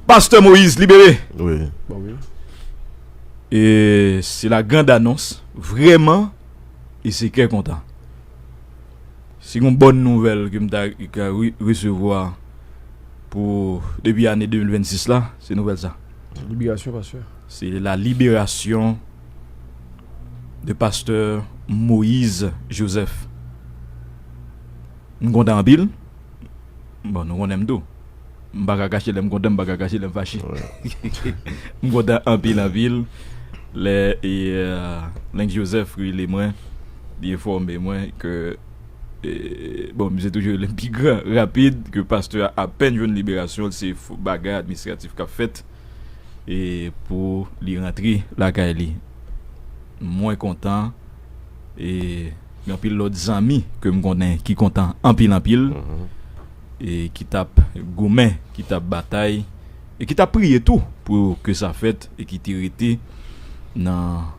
Pastè Moïse libere. Se la grand anons vreman e se kè kontan. Se yon bòn nouvèl ke m ta resevwa pou depi ane 2026 la se nouvèl sa. Se la liberasyon de pastè Moïse Joseph. M kontan anpil. Bon nou konnen m tou. M pa ka kache lè m kontan, m pa ka kache lè m fache. M kontan anpil anpil lè Lenk Joseph rele mwen, li enfòme mwen ke, bon misye toujou rele m pi gran, rapid, ke pastè a apèn jwenn liberasyon l, se bagay administratif k ap fèt e pou li rantre lakay li. Mwen kontan e gen anpil lòt zanmi ke m konnen ki kontan anpil anpil. e ki t ap goumen, ki t ap batay, e ki t ap priye tou pou ke sa fèt, e ki te rete nan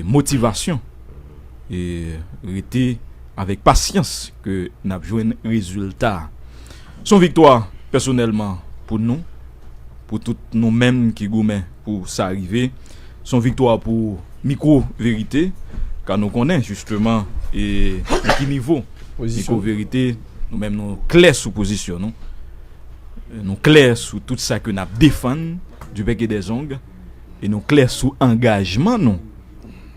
motivasyon, e rete avèk pasyans ke n ap jwenn rezilta a. S on viktwa pèsonèlman pou nou, pou tout nou menm ki goumen. pou sa rive. S on viktwa pou mikwo verite ka nou konnen jisteman e nan ki nivo mikwo verite nou menm nou klè sou pozisyon nou. Nou klè sou tout sa ke n ap defann di bèk e dè zong e nou klè sou angajman nou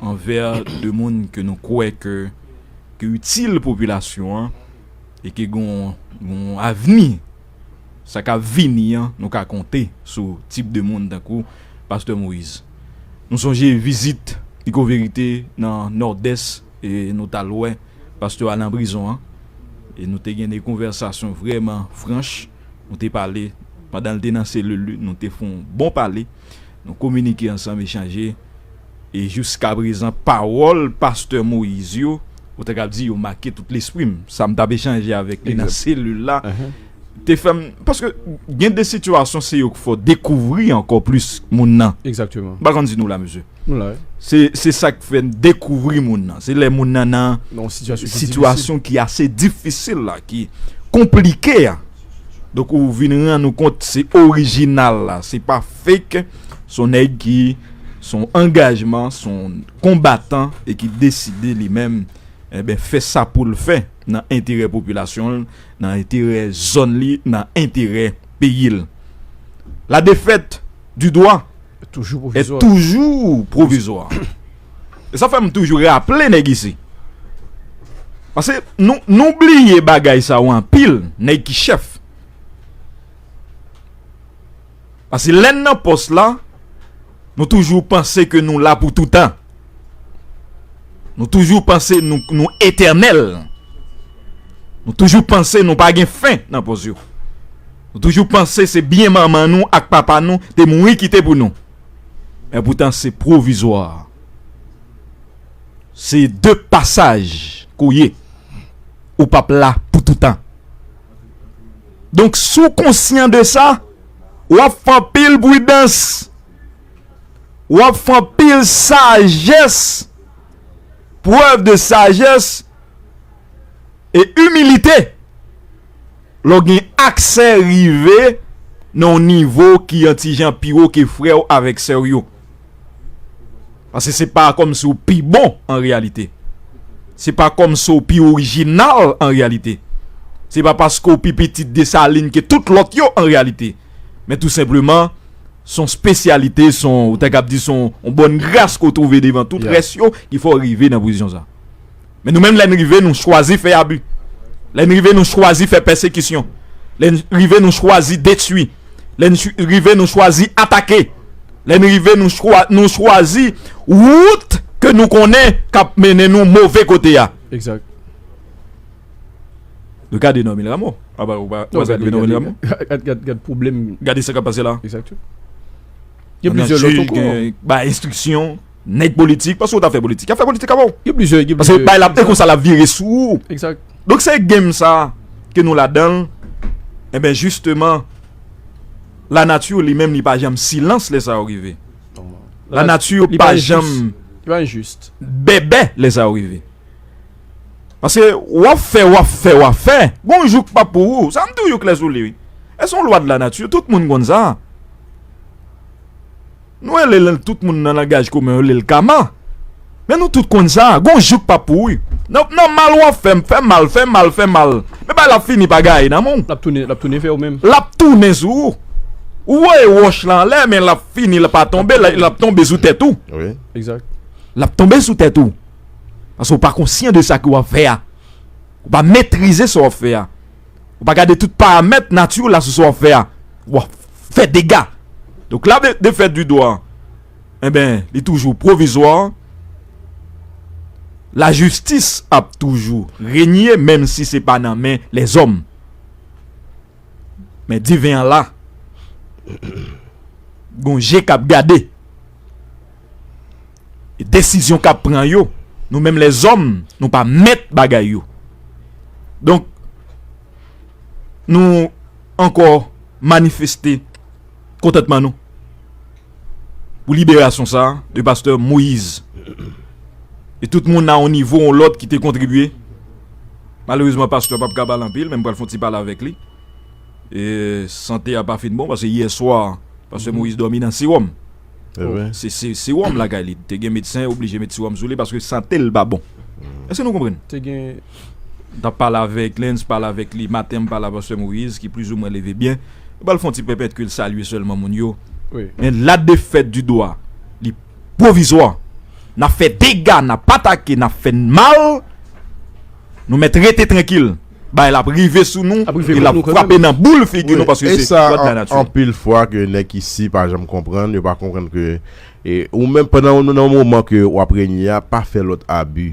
anvè de moun ke nou kwè ke itil popilasyon an e ke gen yon avni. sa k ap vini an, nou ka konte sou tip de moun tankou pastè Moïse. Nou sonje vizit Iko Verite nan Nòdès e nou t al wè pastè a nan prizon an e nou te gen de konvèsasyon vrèman franch. Nou te pale pandan l te nan selil li, nou te fè yon bon pale, nou kominike ansanm, echanje. E jiska prezan pawòl pastè Moïse yo, ou ta kab di yo make tout lespri m. Sa m t ap echanje avèk li nan selil la te fè m. Paske gen de sitiyasyon se yo k fè w dekouvri ankò plis moun nan. M pa konn si nou la mesye. Se sa k fè m dekouvri moun nan. Se lè moun nan nan sitiyasyon ki ase difisil la, ki konplike a. Donk ou vin rann ou kont se orijinal la, se pa. fake son nèg ki son angajman son konbatan e ki deside li menm enben fè sa pou l fè nan enterè popilasyon l nan enterè zòn li nan enterè peyi l la defèt di dwa e toujou pwovizwa e sa fè m toujou raple nèg isi pase nou bliye bagay sa yo anpil nèg ki chèf. Paske lè n nan pòs la, nou toujou panse ke nou la pou toutan. Nou toujou panse nou etènèl. Nou toujou panse nou pa gen fen nan pòs yo. Nou toujou panse se byen manman nou ak papa nou te mouri kite pou nou. E poutan se pwovizwa. Se de pasaj kou ye. Ou pap la pou toutan. Donk si w konsyan de sa, w ap fè anpil pridans, w ap fè anpil sajès, prèv de sajès e imilite lè w gen aksè rive nan yon nivo ki yon ti jan pi wo ke frè w avèk sè w yo. Pase se pa kom si ou pi bon an reyalite. Se pa kom si ou pi orijinal an reyalite. Se pa paske ou pi pitit Desalin ke tout lot yo an reyalite. Men tou senpleman, son spesyalite, son, ou ta kab di son, on bonn gras ke ou twouve devan tout res yo ki fè ou rive nan pozisyon sa. Men nou menm lè n rive nou chwazi fè abi, lè n rive nou chwazi fè pèsekisyon, lè n rive nou chwazi detui, lè n rive nou chwazi atake, lè n rive nou chwazi wout ke nou konnen k ap mennen nou move kote a. Exact. Nou gade Normil Rameau. A ba ou pa wè sa k rive Normil Rameau? Gade pwoblèm. Gade sa k ap pase la. Exact. Gen plizyè lòt ankò. Ba enstriksyon. Nèg politik, paske ou ta fè politik. Yap fè politik avèw. Gen plizyè, gen plizyè. Paske bay la, ekonsa lap vire sou ou. Ekzat. Donk se game sa ke nou ladanl. Enben jisteman, la nature li menm li pa janm silans lè sa yo rive. La nature pa janm. Li pa injuste. Bèbè lè sa yo rive. Paske wap fè, wap fè, wap fè. Gon jou k pap pou ou. Sa mtou you klè sou li wi. E son lwa de la nature, tout moun konn sa. Nou rele l tout moun nan langaj komen yo rele l kama men nou tout konn sa gon jou k pa pou ou nan mal w ap fè m fè mal fè mal fè mal men bagay la ap fini pa gaye nan men w l ap tounen l ap tounen fè w menm l ap tounen sou ou ou voye wòch lan anlè men l ap fini l pa tonbe l ap tonbe sou tèt ou l ap tonbe sou tèt ou paske w pa konsyan de sa ke w ap fè a ou pa metrize sa w ap fè a Ou pa gade tout paramèt nati w la sou sa w ap fè a, w ap fè dega. Donk la defèt di dwa an, enben li toujou pwovizwa, lajistis ap toujou renye menm si se pa nan men lèzòm. Men diven an la, gon je k ap gade. desizyon kap pran yo nou menm lèzòm nou pa mèt bagay yo donk nou ankò manifeste kontantman nou pou liberasyon sa de pastè Moïse e tout moun nan yon nivo yon lòt ki te kontribye malerezman pastè pap ka pale anpil men m pral fon ti pale avèk li e sante a pa fin bon paske yè swa pastè Moïse dòmi nan sewòm. Se sewòm lakay li. Te gen medsen oblije met sewòm sou li paske sante l pa bon. Èske nou konprann? Te gen. M t ap pale avèk l, m pale avèk li maten, m pale avèk pastè Moïse ki plizoumwen leve byen. Li pral fè yon ti pèpèt ke l salye sèlman moun yo. Men la défaite du doua li pwovizwa. N ap fè dega, n ap atake, n ap fè n mal. Nou mèt rete trankil. Bagay la ap rive sou nou e l ap frape nan boul figi nou paske se lwa de la nati. E sa anpil fwa ke nèg isi pa janm konprann, yo pa konprann ke ou menm pandan ou nan moman ke w ap renye a pa fè lòt abi.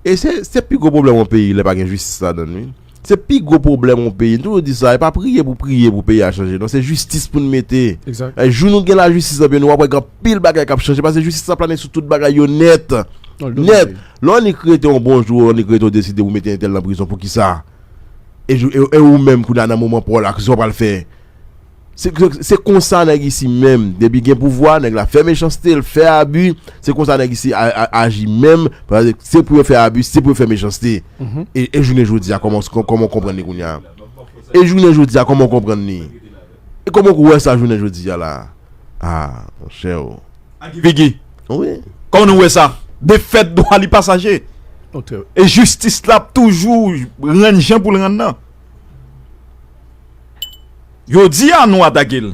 E se pi gwo pwoblèm yon peyi lè pa gen jistis ladan l wi. Se pi gwo pwoblèm yon peyi, m toujou di sa, e pa priye pou priye pou peyi a chanje non, se jistis pou n mete. Jou nou gen lajistis nan peyi nou w ap wè gen anpil bagay k ap chanje paske jistis ap plane sou tout bagay yo nèt. Nèt. Lè w annik rete yon bon jou ou annik rete w deside pou mete entèl nan prizon poukisa e ou menm kounye a nan moman pa w la kisa w pral fè se konsa nèg isi menm depi gen pouvwa nèg la fè mechanste l fè abi se konsa nèg isi aji menm se pou yo fè abi se pou yo fè mechanste e jounen jodi a kòman w konprann li kounye a e jounen jodi a kòman w konprann li. E kòman ou wè sa jounen jodi a la a monchè o? A Guy Vigi, kòman nou wè sa? Defèt dwa li pa saje. E jistis la ap toujou rann jan pou l rann nan. Jodi a nou atake l,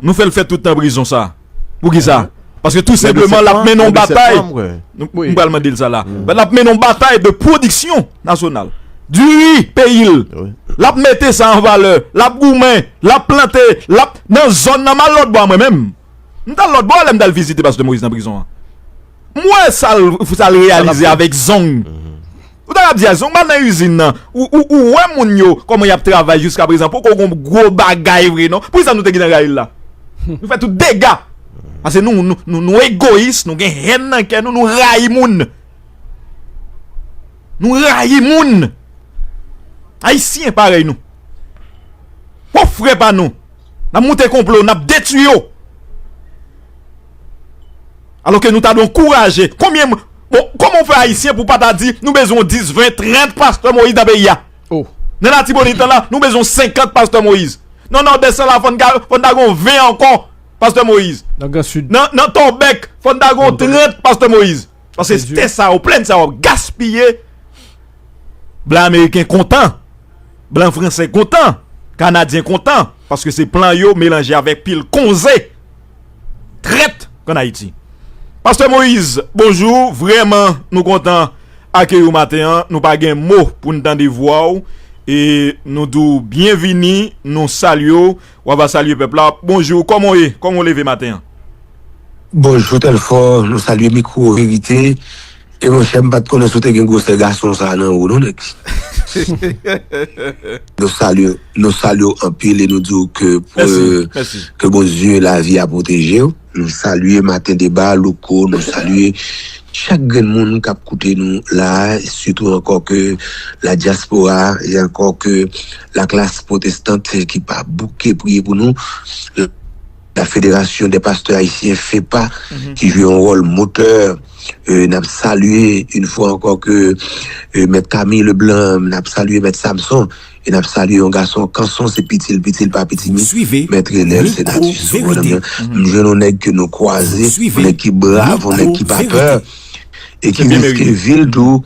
nou fè l fè tout tan prizon sa. Poukisa? Paske tou senpleman l ap mennen yon batay, m pral mande l sa la, l ap mennen yon batay de pwodiksyon nasyonal. Diri peyi l, l ap mete sa an valè, l ap goumen, l ap plante, l ap nan zòn nan. M al lòtbò a mwen menm. M t al lòtbò a lè m t al vizite Pastè Moïse nan prizon an. M wè sa l reyalize avèk zong. Ou ta kab di a zong m al nan izin nan. Ou wè moun yo kòman y ap travay jiskaprezan. Poko gon gwo bagay vre non. Pou ki sa nou te gen nan rayi l la? Nou fè tout dega. Pase nou egoyis, nou gen hèn nan kè nou, nou rayi moun. Nou rayi moun. Ayisyen parèy nou. Pwòp frè pa nou. Nap moute konplo nap detwi yo Alo ke nou ta dwe ankouraje Konbyen moun Bon koman ou fè ayisyen pou pa ta di nou bezwen yon 10, 20, 30 pastè moyiz nan peyi a Nan latibonit lan la nou bezwen yon 50 pastè moyiz Nan nòdès lan la fòn ta gen yon 20 ankò pastè moyiz Nan tòbèk fòn ta gen yon 30 pastè moyiz Paske tè sa yo, plèn sa yo ap gaspiye Blan ameriken kontan, blan franse kontan, kanadyen kontan, paske se plan yo melanje avèk pil konze trèt an Ayiti. Pastè Moïse, bonjou, vrèman nou kontan akeyi w maten an, nou pa gen mo pou n tande vwa w e nou di w byenvini, nou salye w. Wa va salye pèp la. Bonjou, kòman w ye? Kòman w leve maten an? Bonjou Telfort, nou salye mikwo verite e monchè m pat konnen si w te gen gwosè gason sa nan ou non nèg nou salye w anpil e nou di w ke Bondye lavi a pwoteje w. Nou salye maten deba louko nou salye chak grenn moun kap koute nou la sitou ankò ke la dyaspora e ankò ke la klas pwotestant ki pa bouke priye pou nou la federasyon dè pastè ayisyen fepa ki jwe yon wòl motè nap salye yn fwa ankò ke mèt kami leblan nap salye mèt samson e nap salye yon gason kanson se pitil pitil pa pitimi mèt renel se nati sou bonm nan m jwenn yon nèg ke nou kwaze yon nèg ki brav yon nèg ki pa pè e ki riske vil tou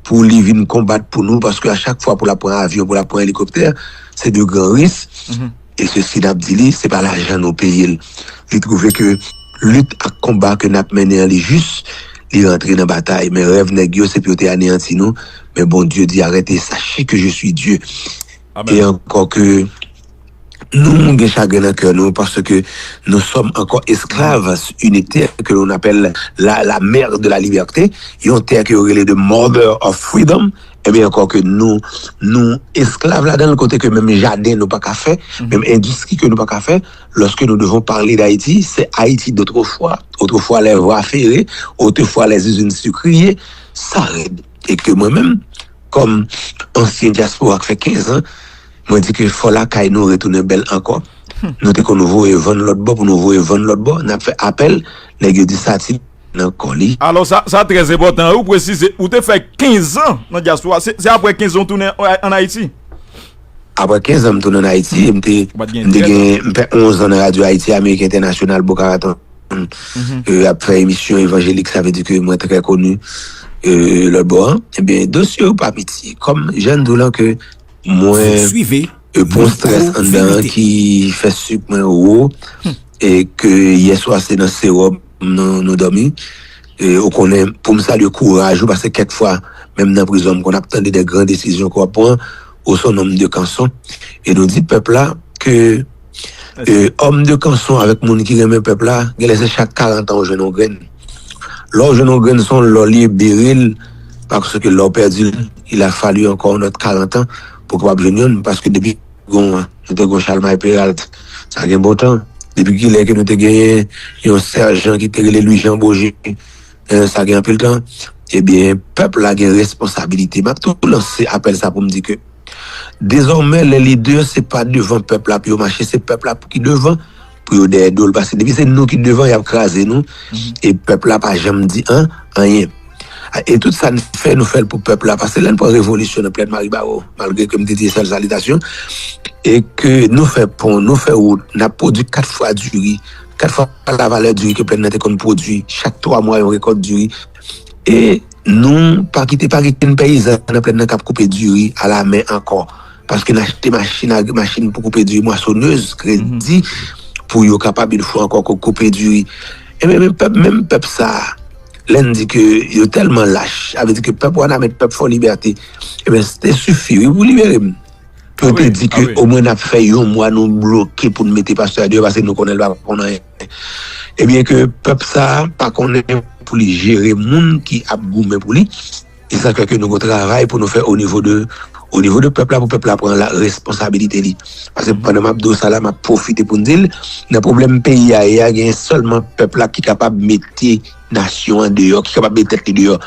pou li vin konbat pou nou paske a chak fwa pou lap pran avyon pou lap pran elikoptè se de gran ris. E sesi nap di li, se pa lajan nou peye l. Li twouve ke lit ak konba ke nap mennen an li jis, li rantre nan batay. Men rèv nèg yo se pou yo te aneyanti nou, men Bondye di arete sache ke je sui Dye. E ankò ke nou gen chagren nan kè nou paske nou sòm ankò esklav une terre que l'on appelle la mer de la liberté, yon tè ke yo rele the mother of freedom. Ebyen ankò ke nou nou esklav ladanl kote ke menm jaden nou paka fè, menm endistri ke nou paka fè, lòske nou devon pale d'Ayiti, se Ayiti dotrefwa, otrefwa lè vwa fere, otrefwa lè zizin sikriye, sa rèd. E ke mwen menm, kòm ansyen dyaspora k fè 15 an, mwen di ke fò lakay nou retounen bèl ankò. Nou te konn voye vann lòtbò pou nou voye vann lòtbò, n'ap fè apèl, nèg yo di sa ti. nan kò li. Alò sa, sa trè enpòtan ou presize ou te fè kenzan nan dyaspora, se apre kenzan ou tounen ann Ayiti? Apre kenzan m tounen ann Ayiti, m te gen, m fè onzan nan radyo Ayiti Ameriken Entènasyonal Boca Raton, ap fè emisyon evanjelik, sa vle di ke mwen trè koni lòtbò an. Ebyen dosye yo pa piti, kòm jan n di w lan ke mwen pran strès anndan ki fè sik mwen wo e ke yèswa se nan sewòm. nou domi e ou konnen poum salye kouraj ou paske kèk fwa menm nan prizon m konn ap tande de gran desizyon ke wap pran ou son nonm de kanson e nou di pèp la ke e òm de kanson avèk moun ki renmen pèp la genlè se chak 40 an ou jwenn yon grenn lè ou jwenn yon grenn son lò li ye bere l paske lè ou pèdi l il a fallu ankò yon lòt 40 an pou kapab jwenn yonn paske depi. Gon an, nou te gon Chalmay Peralt. Sa gen bon tan. Depi ki lè ke nou te genyen yon sèjan ki te rele Lwi Jan Boje? Sa gen anpil tan. Ebyen, pèp la gen responsabilite. M ap tou lanse apèl sa pou m di ke dezòmè lè lidè se pa devan pèp la pou yo mache, se pèp la pou ki devan pou yo dèyè dol paske depi se nou ki devan yap kraze nou e pèp la pa janm di an anyen e tout sa n fè nou fèl pou pèp la paske lè n pran revolisyon nan plèn maribawou malgre ke m te di sal salitasyon e ke nou fè pon nou fè wout nap pwodwi 4 fwa diri 4 fwa la valè diri ke plèn nan te konn pwodwi chak 3 mwa yon rekòt diri e nou pa kite pa gen ken peyizan nan plèn nan kap koupe diri a la men ankò. paske n achte machin agri, machin pou koupe diri, mwasonez, kredi pou yo kapab yon fwa ankò koupe diri. Enben, menm pèp, menm pèp sa a, lè n di ke yo tèlman lach, sa vle di ke pèp Wanament, pèp Fòlibète, enben, se te sifi, wi, pou libere m. Pou yo te di ke omwen n ap fè yon mwa nou bloke pou nou mete pastè a deyò paske nou konnen l pa konn anyen. Ebyen, ke pèp sa a pa konnen pou li jere moun ki ap goumen pou li. E sa fè ke nou gen yon travay pou nou fè o nivo de, o nivo de pèp la pou pèp la pran la responsabilite li. Paske pandan m ap di w sa la, m ap pwofite pou m di l, nan pwoblèm peyi a ye a, genyen sèlman pèp la ki kapab mete nasyon an deyò, ki kapab mete tèt li deyò.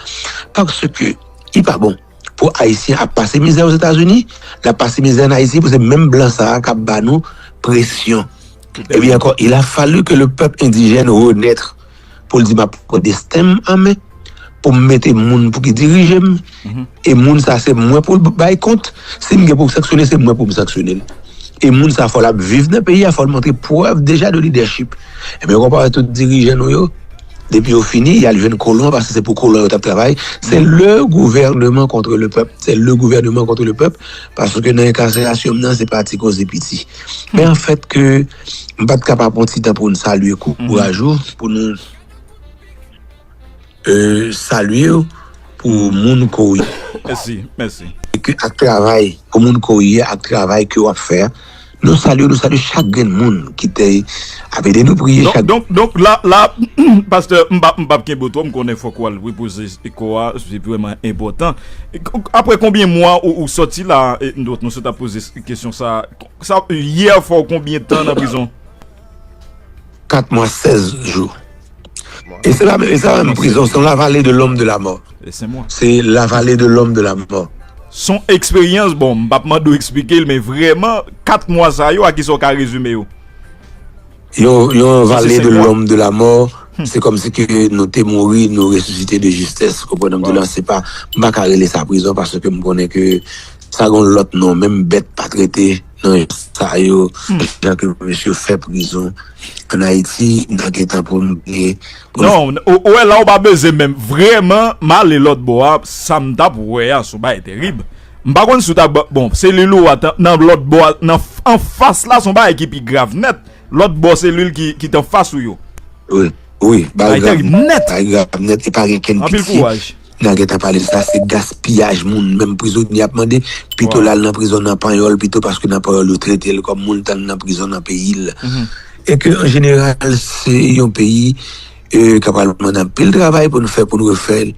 Paske li pa bon pou Ayisyen ap pase mizè Ozetazini, l ap pase mizè ann Ayiti pou se menm blan sa a k ap ba nou presyon. Ebyen ankò, il a fallu que le peuple indigène renaître. pou l di m ap pran desten m an men, pou m mete moun pou ki dirije m, e moun sa se mwen pou l bay kont, si m gen pou m sanksyone se mwen pou m sanksyone l. E moun sa fò l ap viv nan peyi a, fò l montre prèv deja de lidèchip. Ebyen ou konpare tout dirijan nou yo, depi yo fini, y al jwenn kolon an paske se pou kolon yo t ap travay, se le gouvèneman kontre le pèp, se le gouvèneman kontre le pèp, paske nan enkaselasyon m nan se pa ti koze piti. Men an fèt ke. M pat ka pa pran ti tan pou n salye kou kouraj ou pou nou salye w pou moun ke w ye ak travay pou moun ke w ye ak travay ke w ap fè a nou salye w nou salye chak grenn moun ki te ap ede nou priye chak grenn donk la la pastè m pa m pap kenbe w twò m konnen fòk w al repoze kò a se vrèman enpòtan apre konbyen mwa ou sòti la nou sot ap poze kesyon sa. Sa lye a fò konbyen tan nan prizon? 4 mwa 16 jou. E se la menm, e sa menm prizon, son la vale de lom de la mò. E se mwa. Se la vale de lom de la mò. Son eksperyans, bon m pap mande w eksplike l men vreman 4 mwa sa yo a kisa w ka rezime yo? Yon vale de lom de la mò, se kom si ke nou te mouri, nou resisite de jistès, ou konprann sa m di w la, se pa, m pa ka rele sa prizon paske m konnen ke Sa gon lot non menm bet pat rete nan jan sa yo jan ke mesye fè prizon an ayiti nan gentan pou nou bliye pou nou. Non ou wè la ou pa beze menm vreman m ale lot bò a sa m tap wè a son bagay terib m pa konn si w ta bon selil ou a nan lot bò a nan anfas la son bagay ki pi grav nèt. Lòt bò selil ki t anfas ou yo. Wi, wi, bagay grav nèt! Bagay grav nèt e pa gen kenn pitye nan gen tan pale de sa. Se gaspiyaj moun menm prizonye ap mande. Pito l al nan prizon nan Panyòl pito paske nan Panyòl yo trete l kòm moun tann nan prizon nan peyi l. E ke an jeneral se yon peyi. e kap pral mande anpil travay pou nou fè pou nou refè l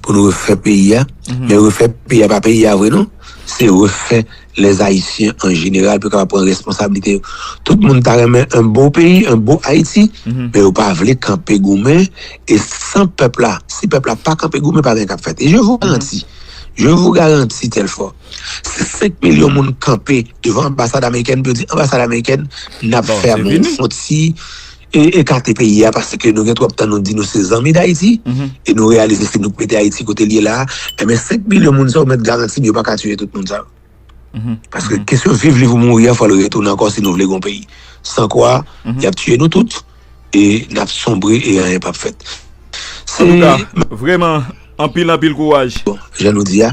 pou nou refè peyi a men refè peyi a pa peyi a vre non se refè les Haïtiens en général pou yo kapab pran responsabilite yo tout moun ta renmen yon bon peyi yon bon Haïti men yo pa vle kanpe goumen e san pèp la si pèp la pa kanpe goumen pa gen kap fèt e je vous garanti je vous garanti Telfort si 5 milyon moun kanpe devan anbasad amerikèn pou yo di anbasad amerikèn nap fèmen yon ti E ekate peyi a paske nou gen twòp tan nou di nou se zanmi Dayiti e nou reyalize se nou k mete Ayiti kote l ye la a. Enben 5 milyon moun sa yo mèt garanti m yo pa ka tiye tout moun sa yo. Paske kesyon viv liv ou mouri a fò l retounen ankò si nou vle gen yon peyi. San kwa y ap tiye nou tout e n ap sonbre e anyen p ap fèt. Se. Antouka, vrèman anpil anpil kouraj. Bon, jan nou di a,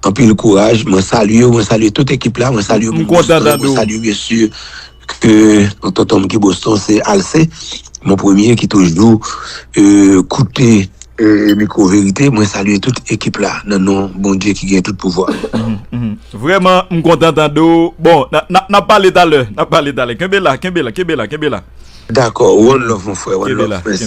anpil kouraj. Mwen salye ou, mwen salye tout ekip la, mwen salye Mwen kontan tande w. Mwen salye byensi. ke tonton m ki Boston se Alce mon premier ki toujou koute mikwo verite mwen salye tout ekip la nan non Bondye ki gen tout pouvwa. Vrèman m kontan tande w bon nap pale talè nap pale talè kenbe la kenbe la kenbe la kenbe la. Dakò one love mon frè one love prince.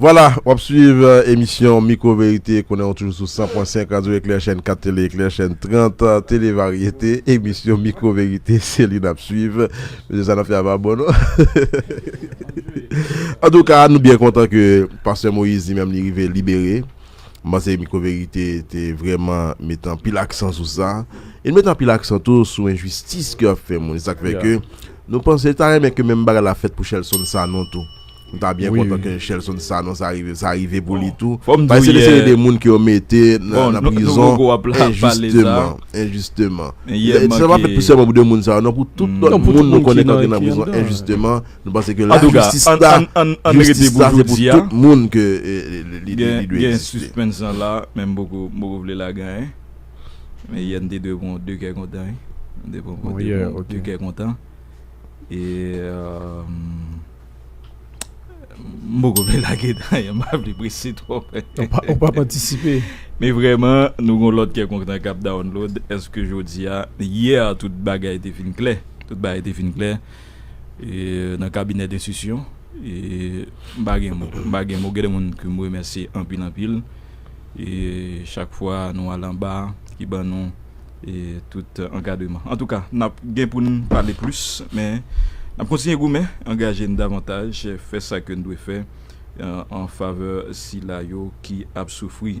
Vwala, w ap swiv emisyon Mikwo Verite, konnen w toujou sou 100.5 Radyo Eklè, chèn 4 Tele Eklè, chèn 30 Tele Varyete. Emisyon Mikwo Verite, se li n ap swiv. Mesye sa n ap fè a pa bon non. Antouka, nou byen kontan ke pastè Moïse li menm li rive libere. M panse Micro Verite te vrèman met anpil aksan sou sa. E l met anpil aksan tou sou enjistis ke y ap fè moun. E sa k fè ke nou panse l ta renmen ke menm bagay la fèt pou Shelson Sanon tou. Nou ta byen kontan ke Shelson Sanon sa rive sa rive pou li tou. Paske se yon seri de moun ke yo mete nan prizon enjisteman. Enjisteman. Sa pa fèt pou sèlman pou 2 moun sa yo non. Pou tout lòt moun nou konnen k ap gen nan prizon enjisteman. Nou panse ke la jistis la, jistis la se pou tout moun ke li dwe egziste. Gen suspens an la, men m poko vle la gen an. Men yè n te dwe pran 2 kè kontan. N te pran 2 kè kontan. E m poko vle la gen an, m pa vle prese twòp. Ou pa p antisipe. Men vreman, nou gen lòt kè kontan k ap download. Eske jodi a, yè a tout bagay te fin klè. Tout bagay te fin klè. nan kabinè denstisyon m pa gen mo m pa gen mo gen de moun ke m remèsye anpil anpil chak fwa nou al anba ki ban nou tout ankadreman antouka n ap gen pou n pale plis men n ap kontinye goumen angaje n davantaj fè sa ke n dwe fè an favè sila yo ki ap soufri.